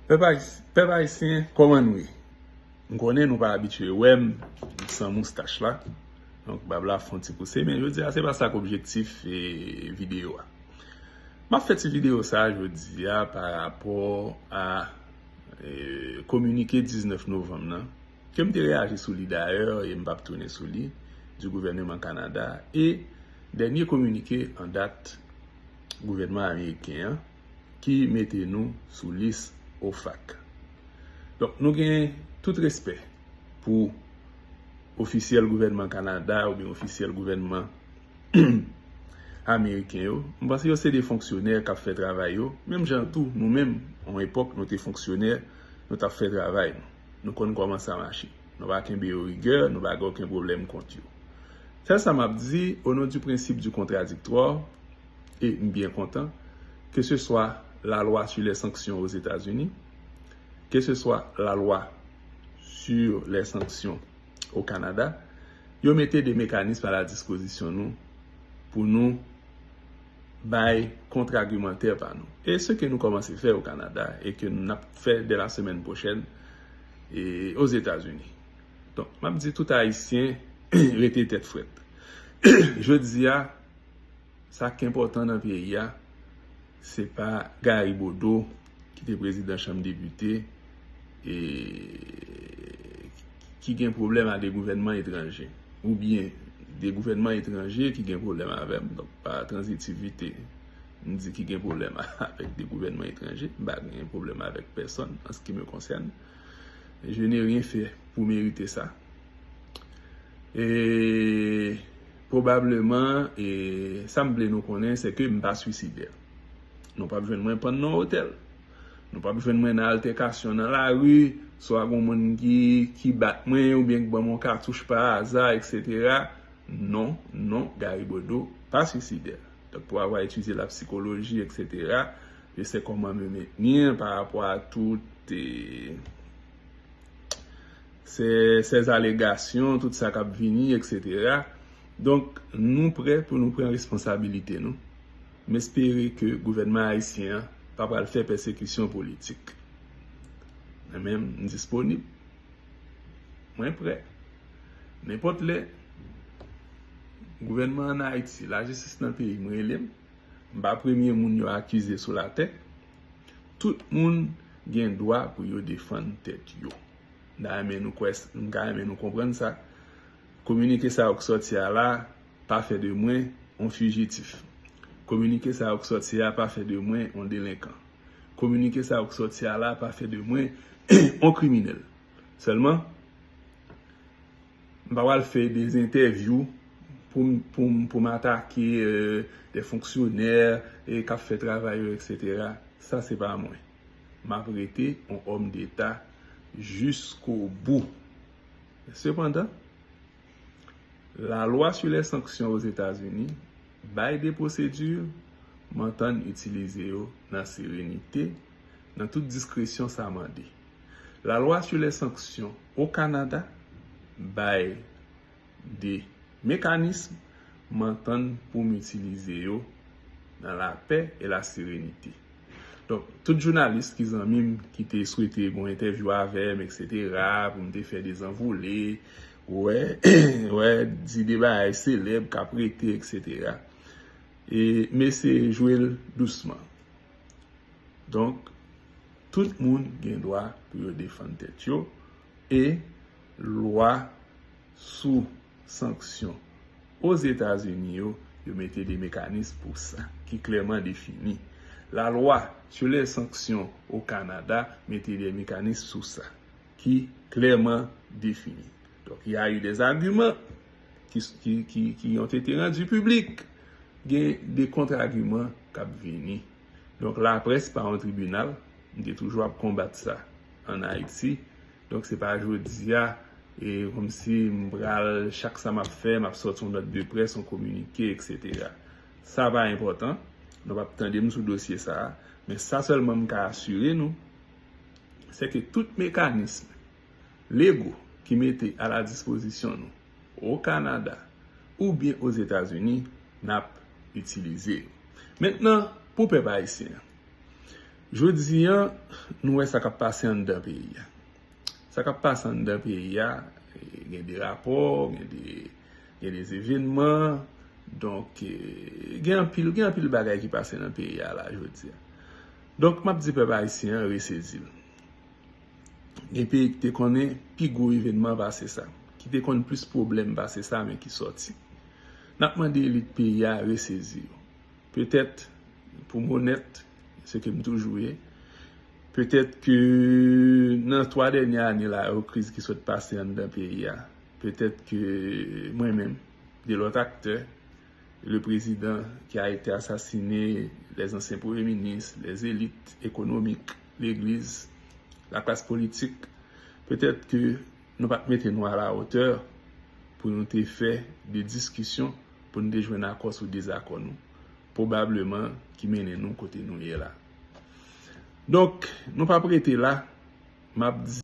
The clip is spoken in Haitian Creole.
Pèp ayisyen kòman nou ye? M konnen nou pa abitye wè m san moustach la, donk bab la fon ti pouse, men jodi a se pa sa k objektif videyo a. M ap fè ti videyo sa jodi a pa rapò a kominike 19 novanm nan, ke m te reyaji sou li dayè e m p ap tounen sou li, di gouvèneman Kanada e dènye kominike an dat gouvènman ameriken an. ki mete nou sou lis OFAC. Donk nou gen tout respè pou ofisyèl gouvènman Kanada oubyen ofisyèl gouvènman Ameriken yo. M panse yo se de fonksyonè k ap fè travay yo, menm jan tou nou menm yon epòk nou te fonksyonè, nou t ap fè travay nou. Nou konn kòman sa mache. Nou pa kenbe yo rigè, nou pa gen oken pwoblèm kont yo. Sèl sa m ap di, onon di prensip di kontradiktrò, e m byen kontan, keseswa la lwa su lè sanksyon o Zetazini, keseswa la lwa su lè sanksyon o Kanada, yo mete de mekanism a la dispozisyon nou pou nou bay kontragimantè pa nou. E se ke nou kòmanse fè o Kanada e ke n ap fè dè la semèn pwochèn o Zetazini. Donk, m ap di tout Ayisyen rete tèt frèt. Jodi a. Sak te enpòtan nan peyi a se pa Gary Bodeau ki te prezidan chanm depite e ki gen pwoblèm a de gouvènman etranje ou byen de gouvènman etranje ki gen pwoblèm avè m donk pa tranzitivite m di ki gen pwoblèm avèk de gouvènman etranje m pa gen pwoblèm avèk pèsòn an se ki me konsène je ne rien fè pou merite sa e. Pwobableman, e sa m vle nou konnen se ke m pa swisidè. Nou pap jwenn mwen pann nan otèl. Nou pap jwenn mwen nan altèkasyon nan lari, swa gen yon moun ki bat mwen oubyen ki ban mwen yon katouch pa aza, eksetera. Non, non, Gary Bodeau pa swisidè. Donk pou avwa etidye la psikoloji, eksetera, je se koman me maintenir parapò a tout Sè sèz alegasyon tout sa kap vini etc. Donk nou prè pou nou pran responsabilite nou. M espere ke gouvènman ayisyen an pa pral fè pèsekisyon politik. Mwen menm m disponib. Mwen prè. Nenpòt lè gouvènman an Ayiti, lajistis nan peyi m rele m, m pa premye moun yo akize sou latè. Tout moun gen dwa pou yo defann tèt yo. M ta renmen nou kwè, m ta renmen nou konprann sa. Kominike sa yo k sòti a la pa fè de mwen on fijitif. Kominike sa yo k sòti a pa fè de mwen on delenkan. Kominike sa yo k sòti a la pa fè de mwen on kriminèl. Sèlman. M pa pral fè des entèvyou pou m atake des fonksyonè k ap fè travay yo etc. Sa se pa mwen. M ap rete yon òm deta jiskobou. Men sepandan, lalwa sou lè sanksyon Ozetazini bay de pwosedi m antann itilize yo nan serenite, nan tout diskresyon sa mande. La loi sur les sanctions au Canada bay 2 mekanism m antann pou m itilize yo nan la pè e la serenite. Donk, tout jounalis ki zanmi m ki te swete gon entèvyou avè m eksetera pou m te fè dezanvole, wè, wè, di 2 bagay selèb k ap rete eksetera. E mesye jwe l dousman. Donk. Tout moun gen dwa pou yo defann tèt yo e lwa sou sanksyon Ozetazini yo, yo mete de mekanism pou sa, ki klèman defini. La lwa sou lè sanksyon o Kanada mete de mekanism sou sa, ki klèman defini. Donk y a eu des arguments qui ont été rendus publics. Gen de kontra-arguments k ap vini. Donk laprès pa yon tribinal, m te toujou ap konbat sa an Ayiti. Donk se pa jodi a e kòmsi m pral chak sa m ap fè m ap sòti yon nòt de près, yon kominike eksetera. Sa pa enpòtan, nou p ap tande m sou dosye sa a. Men sa sèlman m ka asire nou, sèke tout mekanism lego ki mete a la dispozisyon nou, O Kanada oubyen o Zetazini n ap itilize yo. Mentnan pou pèp ayisyen an. Jodi an nou wè sa k ap pase anndan peyi a. Sa k ap pase anndan peyi a gen de rapò, gen de evenman, donk gen anpil, gen anpil bagay ki pase nan peyi a la jodi a. Donk m ap di pèp ayisyen an resezi l. Gen peyi ki te konnen pi gwo evènman pase sa, ki te konn plis pwoblèm pase sa men ki sòti. N ap mande elit peyi a resezi yo. Petèt, pou m onèt, se ke m toujou ye, petèt ke nan 3 dènye ane la yo kriz ki sot pase anndan peyi a, petèt ke mwen menm, de lòt aktè, le prezidan ki a ete asasine, lèzansyen premye minis, lèzelit ekonomik, legliz, laklas politik, petèt ke nou pa t mete nou alawotè pou nou te fè de diskisyon pou nou te jwenn akò sou dezakò nou, pwobableman ki mennen nou kote nou ye la. Donk, nou p ap rete la, m ap di.